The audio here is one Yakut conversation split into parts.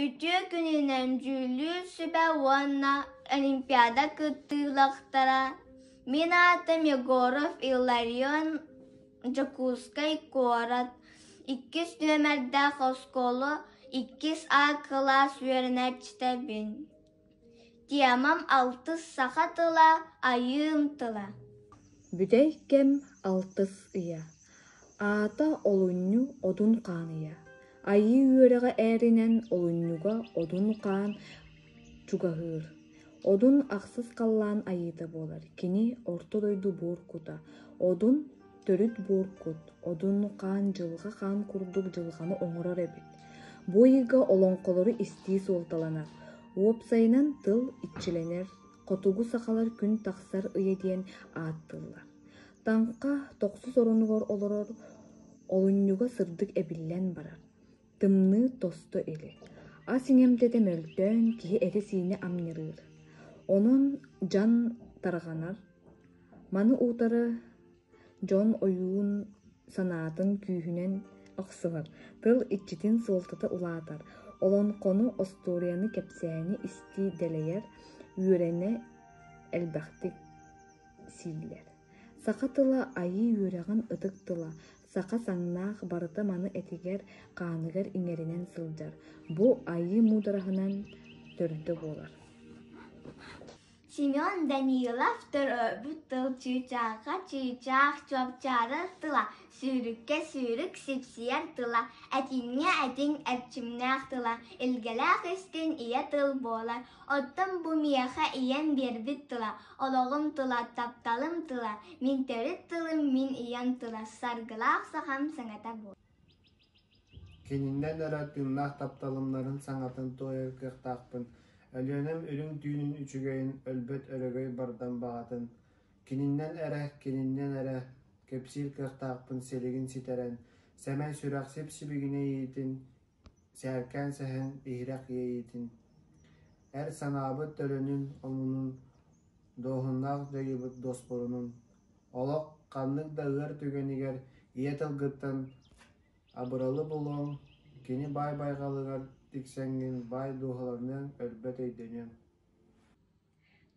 Үтүө күнүнэн дьүүллүүр сүбэ уонна олимпиада кыттыылаахтара мин аатым Егоров Илларион Дьокуускай куорат иккис нүөмэрдээх оскуола иккис А кылаас үөрэнээччитэбин Темам алтыс саха тыла, айыым тыла Бүтэй кэм алтыс ыйа Аата олунньу одун хаан ыйа Айыы үөрэҕэ ээринэн олунньуга одун хаан чугаһыыр Одун ахсыс халлаан айыыта буолар Кини орто дойду буор кута Одун төрүт буоркут, одун-хаан, дьылҕа хаан курдук дьылҕаны оҥорор эбит. Бу ыйга олоҥхолору истии суолталанар. Уопсайынан тыл иччилэнэр, хотугу сахалар күн тахсар ыйа диэн ааттыыллар. Таҥха тохсус оронугар олорор, олунньуга сырдык эбиллэн барар. Тымныы тосто или. Ас иҥэм дэтэ мөлтөөн киһи этэ-сиинэ амньырыыр. Онон дьан тарҕанар. Маны утары дьон ойуун санаатын күүһүнэн охсуһар, тыл иччитин суолтата улаатар, олоҥхону, остуоруйаны, кэпсээни истии дэлэйэр, үөрэнэ элбэхтик сииллэр. Саха тыла айыы үөрэҕин ытык тыла, Саха саҥнаах барыта маны этигэр, хааныгар иҥэринэн сылдьар, бу айыы муудараһынан төрдө буолар Семен Данилов төрөөбүт тыл чыычаахха чыычаах чопчаарар тыла, сүүрүккэ сүүрүк сипсийэр тыла, этиҥҥэ этиҥ эрчимнээх тыла, илгэлээх истин ийэ тыл буолар. Оттон бу миэхэ ийэм биэрбит тыла, Олоҕум тула, тапталым тула, мин төрүт тылым мин ийэм тула саргылаах сахам саҥата буол. Кининэн эрэ тыыннаах тапталымнарын саҥатын туойар кыахтаахпын. Өлүөнэм үрүҥ түүнүн үчүгэйин, өлбөт өрөгөй бардам баҕатын. Кининнэн эрэ, кининнэн эрэ кэпсиир кыахтаахпын силигин ситэрэн, сэмэй сүрэх сип-сибигинэ иитин, Сээркээн сэһэн иһирэх иэйиитин, эр санаабыт төлөнүн омунун, дуоһуннаах дьайыыбыт дуоспурунун, олох ханнык да ыар түгэнигэр ийэ тылгыттан абыралы булуоҥ, кини баай байҕалыгар тиксэҥҥин баай дууһаланыаҥ, өлбөт өйдөнүөҥ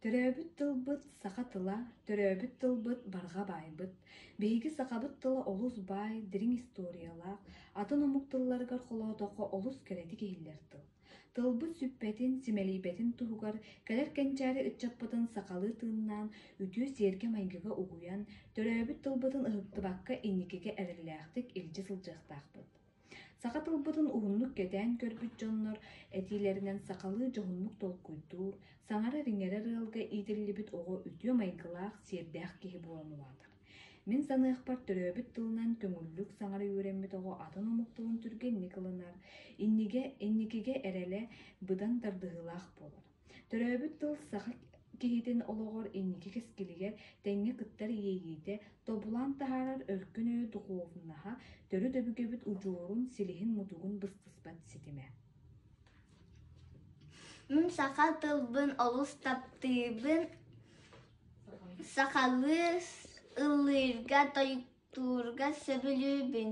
Төрөөбүт тылбыт саха тыла, төрөөбүт тылбыт барҕа баайбыт. Биһиги сахабыт тыла олус баай, дириҥ историялаах, атын омук тылларыгар холоотоххо олус кэрэтик иһиллэр тыл. Тылбыт сүппэтин, симэлийбэтин туһугар кэлэр кэнчээри ыччаппытын сахалыы тыыннаан, үтүө сиэргэ-майгыга угуйан, төрөөбүт тылбытын ыһыктыбакка инникигэ эрэллээхтик илдьэ сылдьыахтаахпыт. Саха тылбытын уһуннук кэтээн көрбүт дьоннор этиилэринэн сахалыы дьоһуннук толкуйдуур, саҥара-иҥэрэр ыалга иитиллибит оҕо үтүө майгылаах, сиэрдээх киһи буолан улаатар. Мин саныахпар төрөөбүт тылынан көҥүллүк саҥара үөрэммит оҕо атын омук тылын түргэнник ылынар, иннигэ, инникигэ эрэлэ быдан тардыһыылаах буолар. Төрөөбүт тыл саха киһитин олоҕор инники кэскилигэр тэҥҥэ кыттар иэйиитэ, тобулан таһаарар өркөн өйө духуобунаһа, төрүт өбүгэбит удьуорун, силиһин-мутугун быстыспат ситимэ. Саха тылбын олус таптыыбын, сахалыы ыллыырга, тойуктуурга сөбүлүүбүн.